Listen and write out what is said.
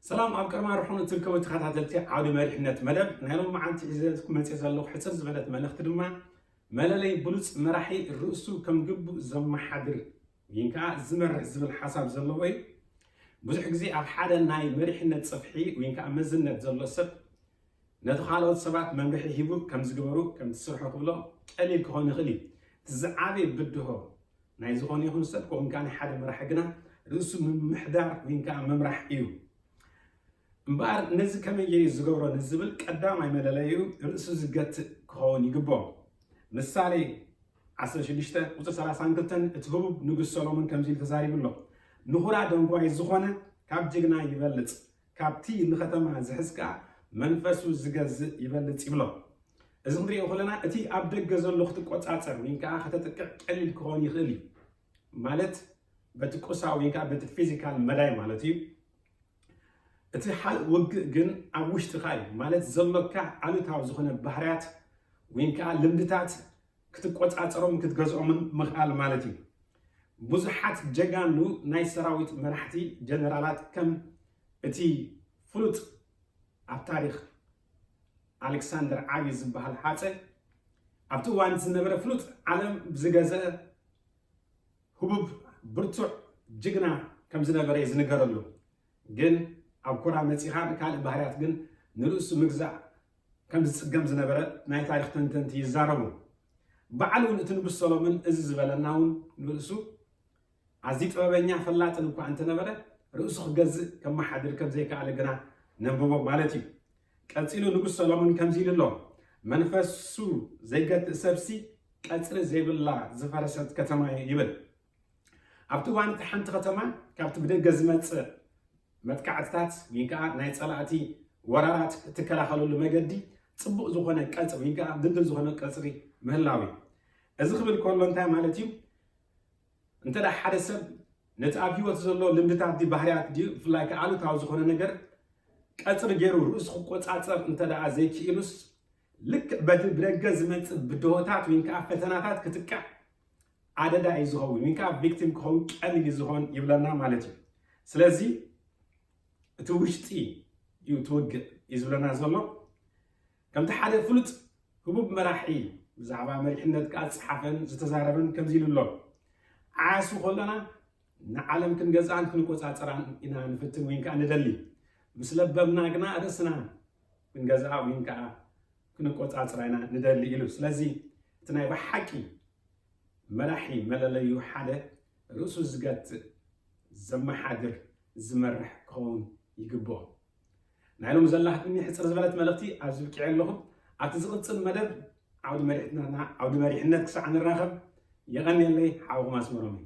ሰላም ኣብ ቀርማ ርሑን እትርከቡ ተኸታተልቲ ዓውዲ መሪሕነት መደብ ናይ ሎም መዓልቲ ሒዘት መፅ ዘለኹ ሕፅር ዝበለት መልእኽቲ ድማ መለለይ ብሉፅ መራሒ ርእሱ ከም ግቡእ ዘመሓድር ግን ከዓ ዝመርሕ ዝብል ሓሳብ ዘለዎ እዩ ብዙሕ ግዜ ኣብ ሓደ ናይ መሪሕነት ፅፍሒ ወይ ከዓ መዝነት ዘሎ ሰብ ነቲ ካልኦት ሰባት መምርሒ ሂቡ ከም ዝገበሩ ከም ዝስርሑ ክብሎ ቀሊል ክኾን ይኽእል እዩ እቲ ዝዓበየ ብድሆ ናይ ዝኾነ ይኹን ሰብ ከምኡ ከዓ ናይ ሓደ መራሒ ግና ርእሱ ምምሕዳር ወይ ከዓ ምምራሕ እዩ። እምበኣር ነዚ ከመይ እየ ዝገብሮ ንዝብል ቀዳማይ መለለዩ ርእሱ ዝገትእ ክኸውን ይግብኦ። ምሳሌ 16 ቁፅሪ 32 እቲ ህቡብ ንጉስ ሰሎሞን ከምዚ ኢሉ ተዛሪቡ ኣሎ ንኹራ ደንጓይ ዝኾነ ካብ ጅግና ይበልፅ ካብቲ ንኸተማ ዝሕዝካ መንፈሱ ዝገዝእ ይበልጽ ይብሎ። እዚ ክንርእዮ ከለና እቲ ኣብ ደገ ዘሎ ክትቆጻጸር ወይን ከኣ ከተጥቅዕ ቀሊል ክኾን ይኽእል እዩ። ማለት በቲ ቁሳዊ ወይን ከኣ በቲ ፊዚካል መዳይ ማለት እዩ። እቲ ሓል ውግእ ግን ኣብ ውሽጥኻ እዩ። ማለት ዘሎካ ኣሉታዊ ዝኾነ ባህርያት ወይን ከኣ ልምድታት ክትቆጻጸሮምን ክትገዝኦምን ምኽኣል ማለት እዩ። ብዙሓት ጀጋኑ ናይ ሰራዊት መራሕቲ ጀነራላት ከም እቲ ፍሉጥ ኣብ ታሪኽ ኣሌክሳንደር ዓቢ ዝበሃል ሃጸ ኣብቲ እዋን እቲ ዝነበረ ፍሉጥ ዓለም ብዝገዘአ ህቡብ ብርቱዕ ጅግና ከም ዝነበረ እዩ ዝንገረሉ። ግን ኣብ ኩራ መጺኻ ንካልእ ባህርያት ግን ንርእሱ ምግዛእ ከም ዝጽገም ዝነበረ ናይ ታሪኽ ተንተንቲ ይዛረቡ። ባዕሉ ውን እቲ ንጉስ ሰሎምን እዚ ዝበለና ውን ንርእሱ ኣዝዩ ጥበበኛ ፈላጥን እኳ እንተነበረ ርእሱ ክገዝእ ከመሓድር ከም ዘይከኣለ ግና ነንብቦ ማለት እዩ። ቀጺሉ ንጉስ ሰሎምን ከምዚ ኢሉ ኣሎ መንፈሱ ዘይገትእ ሰብሲ ቀጽሪ ዘይብላ ዝፈረሰት ከተማ እዩ ይብል። ኣብቲ እዋን እቲ ሓንቲ ከተማ ካብቲ ብደገ ዝመፅእ መጥቃዕትታት ወይ ከዓ ናይ ፀላእቲ ወራራት እትከላኸለሉ መገዲ ፅቡቕ ዝኾነ ቀፅሪ ወይ ከዓ ድልድል ዝኾነ ቀፅሪ ምህላው እዩ እዚ ክብል ከሎ እንታይ ማለት እዩ እንተ ሓደ ሰብ ነቲ ኣብ ሂወት ዘሎ ልምድታት ድዩ ባህርያት ድዩ ብፍላይ ከዓ ኣሉታዊ ዝኾነ ነገር ቀፅሪ ገይሩ ርእሱ ክቆፃፀር እንተ ዘይክኢሉስ ልክዕ በቲ ብደገ ዝመፅእ ብድሆታት ወይ ከዓ ፈተናታት ክትቃዕ ኣደዳ እዩ ዝኸውን ወይ ከዓ ቪክቲም ክኸውን ቀሊል እዩ ዝኸውን ይብለና ማለት እዩ ስለዚ እቲ ውሽጢ እዩ ትውግእ እዩ ዝብለና ዘሎ ከምቲ ሓደ ፍሉጥ ህቡብ መራሒ ብዛዕባ መሪሕነት ከዓ ዝፀሓፈን ዝተዛረበን ከምዚ ኢሉ ኣሎ ዓያሱ ከለና ንዓለም ክንገዝኣን ክንቆፃፀራን ኢና ንፍትን ወይ ከዓ ንደሊ ምስ ለበምና ግና ርእስና ክንገዝኣ ወይ ከዓ ክንቆፃፅራ ኢና ንደሊ ኢሉ ስለዚ እቲ ናይ ብሓቂ መራሒ መለለዩ ሓደ ርእሱ ዝገትእ፣ ዘመሓድር፣ ዝመርሕ ክኸውን ይግብኦ። ናይ ሎሚ ዘላትኒ ሕጽር ዝበለት መልእኽቲ ኣብዚ ብቂዐ ኣለኹ። ኣብቲ ዝቕጽል መደብ ዓውዲ መሪሕነትና ዓውዲ መሪሕነት ክሳዕ ንራኸብ የቐንየለይ ሓውኹም ኣስመሮም እዩ።